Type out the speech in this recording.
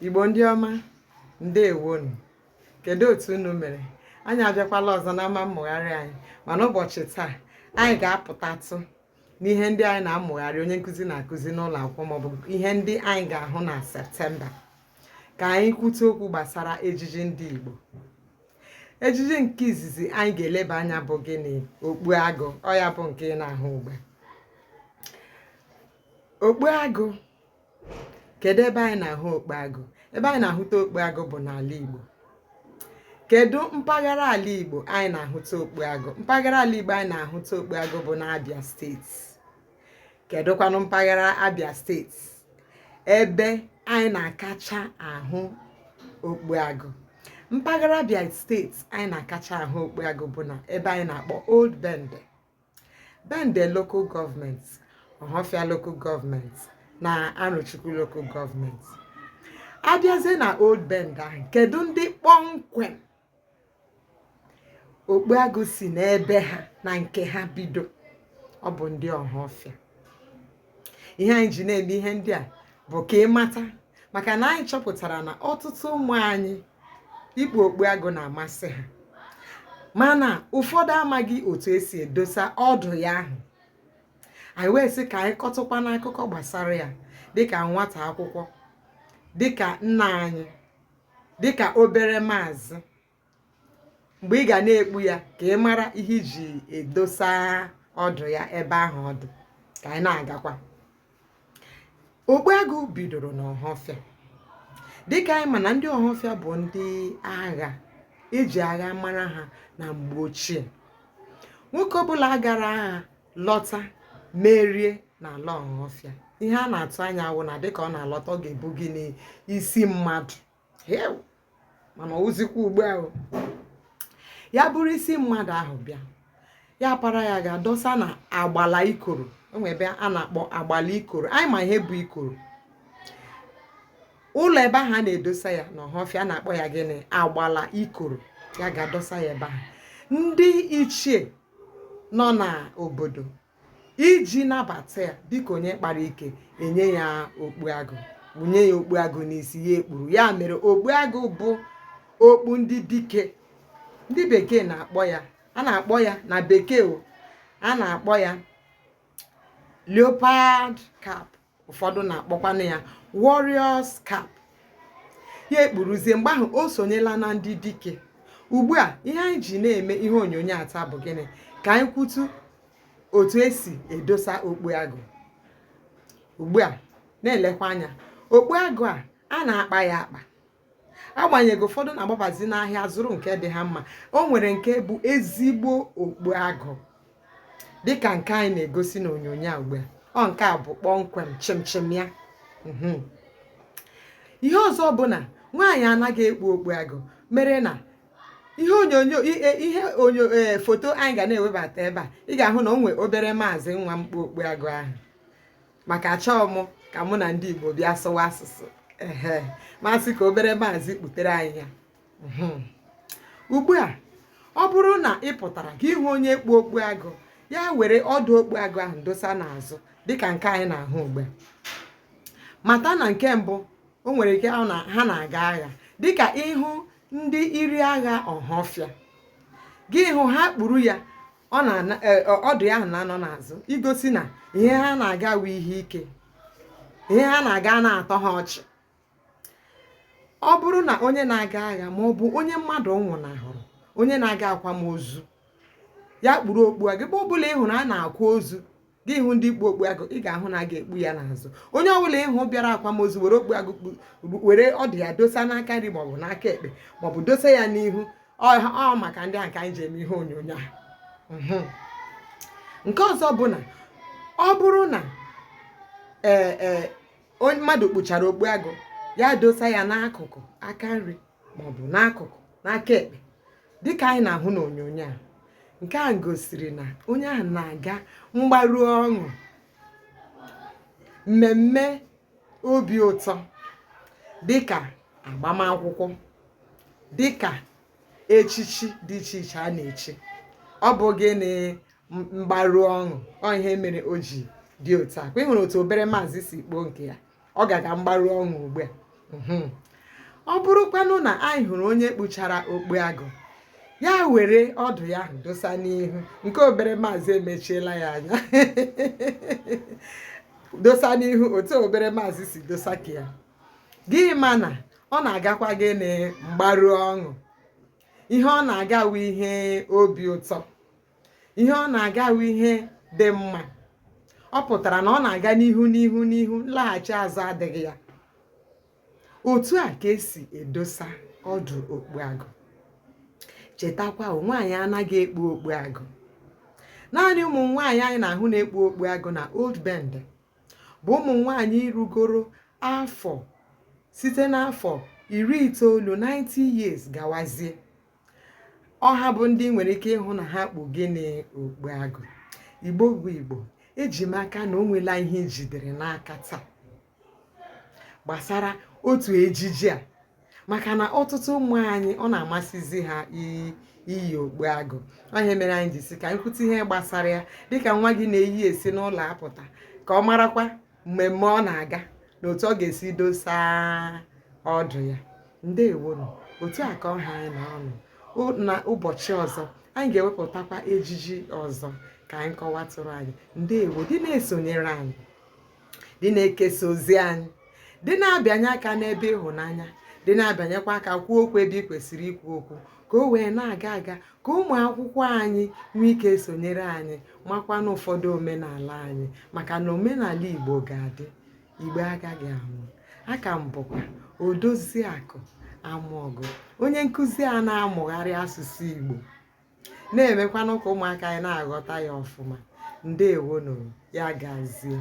igbo ndị ọma ndewonụ kedu otu unu mere anyị abịakwala ọzọ na ama mmụgharị anyị mana ụbọchị taa anyị ga-apụtatụ n'ihe ndị anyị na-amụgharị onye nkụzi na-akụzi n'ụlọ akwụkwọ maọbụ ihe ndị anyị ga-ahụ na septemba ka anyị kwute okwu gbasara ejiji ndị Igbo ejiji nke izizi anyị ga-eleba anya bụ gịnị okpu agụ ọ ya bụ nke ị na-ahụ ugbu a okpu agụ kedu ebe anyị na-ahụ okpu agụ ebe anyị na-ahụta okpu agụ bụ n'ala Igbo kedu mpaghara ala Igbo anyị na-ahụta okpu agụ mpaghara ala Igbo anyị na-ahụta okpu agụ bụ n'Abia state kedụkwanụ mpaghara abịa state ebe anyị na-akacha ahụ okpu agụ mpaghara abịa state anyị na-akacha ahụ okpu agụ bụ na ebe anyị na-akpọ old bende bende local government ọhafịa local government na arọchukwu local government abịazie na old bende ahụ kedu ndị kpọmkwem Okpu agụ si n'ebe ha na nke ha bido ọ bụ ndị ọhafịa ihe anyị ji na-eme ihe ndị a bụ ka ị mata maka na anyị chọpụtara na ọtụtụ ụmụ anyị ikpu okpu agụ na-amasị ha mana ụfọdụ amaghị otu esi edosa ọdụ ya ahụ anyị wee sị ka anyị kọtụkwa n'akụkọ gbasara ya dịka nwata akwụkwọ dịka nna anyị dịka obere maazị mgbe ị ga na-ekpu ya ka ị mara ihe i ji dosa ọdụ ya ebe ahụ ọ dụ ka anyị na-agakwa okpu agụ bidoro n'ọhafịa dịka anyị ma na ndị ọhafịa bụ ndị agha eji agha mara ha na mgbe ochie nwoke ọbụla gara agha lọta merie n'ala ọhafịa ihe a na-atụ anya wụ na dịka ọ na-alọta ọ ga-ebu gịnị isi mmadụ mana ọ wụzịkwa ugbu a ya buru isi mmadụ ahụ bịa ya para ya gaa dosa na agbala ikoro enwe ebe a na-akpọ agbala ikoro anyị ma ihe bụ ikoro ụlọ ebe ahụ a na-edosa ya na ọhafịa na-akpọ ya gịnị agbala ikoro ya gaa dosa ya ebe ahụ ndị ichie nọ n'obodo iji nabata ya dịka onye kpara ike enye ya okpu agụ kpunye ya okpu agụ n'isi ya ekpuru ya mere okpu agụ bụ okpu ndị dike ndị bekee na-akpọ ya a na-akpọ ya na bekee o a na-akpọ ya leopard cap ụfọdụ na-akpọkwanụ ya warriors cap ya ekpuruzie mgbe ahụ o sonyela na ndị dike ugbu a ihe anyị ji na-eme ihe onyonyo a taa bụ gịnị ka anyị kwutu otu e si edosa okpu agụ ugbu a na-elekwa anya okpu agụ a a na-akpa ya akpa agbanyeghị ụfọdụ na-agbabazi n'ahịa zụrụ nke dị ha mma o nwere nke bụ ezigbo okpu agụ dịka nke anyị na-egosi n'onyonyo a ugbu a ọ nke a bụ kpọmkwem chịmchịm ya mhm. ihe ọzọ bụ na nwaanyị anaghị ekpu okpu agụ mere na ihe onyonyo e, ihe onyo e, foto anyị ga na-ewebata ebe a ị ga-ahụ na o nwee obere maazị nwa m kpu okpu agụ ahụ maka achọọ m ka mụ na ndị Igbo bịa sụwa asụsụ ehe m asị ka obere maazị kputere anyị ya mhm. ugbu a ọ bụrụ na ị pụtara gị hụ onye kpu okpu agụ ya were ọdụ okpu agụ ahụ dosa n'azụ dịka nke anyị na-ahụ ugbu a mata na nke mbụ o nwere ike ha na-aga agha dịka ị hụ ndị iri agha ọhafịa gị hụ ha kpuru ya ọ na e, ọdụ ya ahụ na-anọ n'azụ igosi na ihe ha na-aga wu ihe ike ihe ha na-aga anaghị atọ ha ọchị ọ bụrụ na onye na-aga agha ma ọ bụ onye mmadụ nwụnahụrụ onye na-aga akwamozu ya kpuru okpu agụ ebe ọbụla ị hụrụ a na-akwa ozu gị hụ ndị kpu okpu agụ ị ga-ahụ na a ga-ekpu ya n'azụ onye ọbụla ị hụ bịara akwamozu were okpu agụ were ọdụ ya dosa n'aka nri maọbụ n'aka ekpe maọbụ dosa ya n'ihu ọ maka ndị a ka anyị ji eme ihe onyonyo a mhm. nke ọzọ bụ na ọ bụrụ na ee e, mmadụ kpuchara okpu agụ ya dosa ya n'akụkụ aka nri maọbụ n'akụkụ n'aka ekpe dịka anyị na-ahụ n'onyonyo a nke a gosiri na onye ahụ na-aga mgbaru ọṅụ mmemme obi ụtọ dịka agbamakwụkwọ dịka echichi dị iche iche a na-echi ọ bụ gịnị mgbaru ọṅụ ọ ihe mere o ji dị otu a ọkwa ị hụrụ otu obere maazị si kpuo nke ya ọ ga-aga mgbaru ọṅụ ugbu a mhm. ọ bụrụkwanụ na anyị hụrụ onye kpuchara okpu agụ ya were ọdụ ya ahụ dosa n'ihu nke obere maazị emechiela ya anya dosa n'ihu otu obere maazị si dosa nke ya gị ma na ọ na-agakwa gịnị mgbaru ọṅụ ihe ọ na-aga wu ihe obi ụtọ ihe ọ na-aga wụ ihe dị mma ọ pụtara na ọ na-aga n'ihu n'ihu n'ihu nlaghachi azụ adịghị ya otu a ka esi edosa ọdụ okpu agụ chetakwa nwaanyị anaghị ekpu okpu agụ naanị ụmụ nwaanyị anyị na-ahụ na-ekpu okpu agụ na old bende bụ ụmụ nwaanyị rugoro afọ site n'afọ iri itoolu 90 years gawazie ọ ha bụ ndị nwere ike ịhụ na ha kpu gịnị okpu agụ igbo bụ igbo eji m aka na o nwela ihe i jidere n'aka taa gbasara otu ejiji a maka na ọtụtụ ụmụ anyị ọ na-amasịzi ha iyi okpu agụ ọ ihe mere anyị ji sị ka anyị kwutụ ihe gbasara ya dịka nwa gị na-eyi esi n'ụlọ apụta ka ọ marakwa mmemme ọ na-aga na otu ọ ga-esi dosa ọdụ ya ndewonụ otu a ka ọ ha anyị n'ọnụ n'ụbọchị ọzọ anyị ga-ewepụtakwa ejiji ọzọ ka anyị kọwatụrụ anyị ndewo dị na-esonyere anyị dị na-ekesa ozi anyị dị na-abịanye aka n'ebe ịhụnanya dị na-abịanyekwa aka kwuo okwu ebe ị kwesịrị ikwu okwu ka o wee na-aga aga ka ụmụ akwụkwọ anyị nwee ike sonyere anyị makwa na ụfọdụ omenala anyị maka na omenala igbo ga-adị igbo agaghị anwụ aka m bụkwa odoziakụ amaọgụ onye nkụzi a na-amụgharị asụsụ igbo na-emekwanụ ka ụmụaka anyị na-aghọta ya ọfụma ndewonụ ya gazie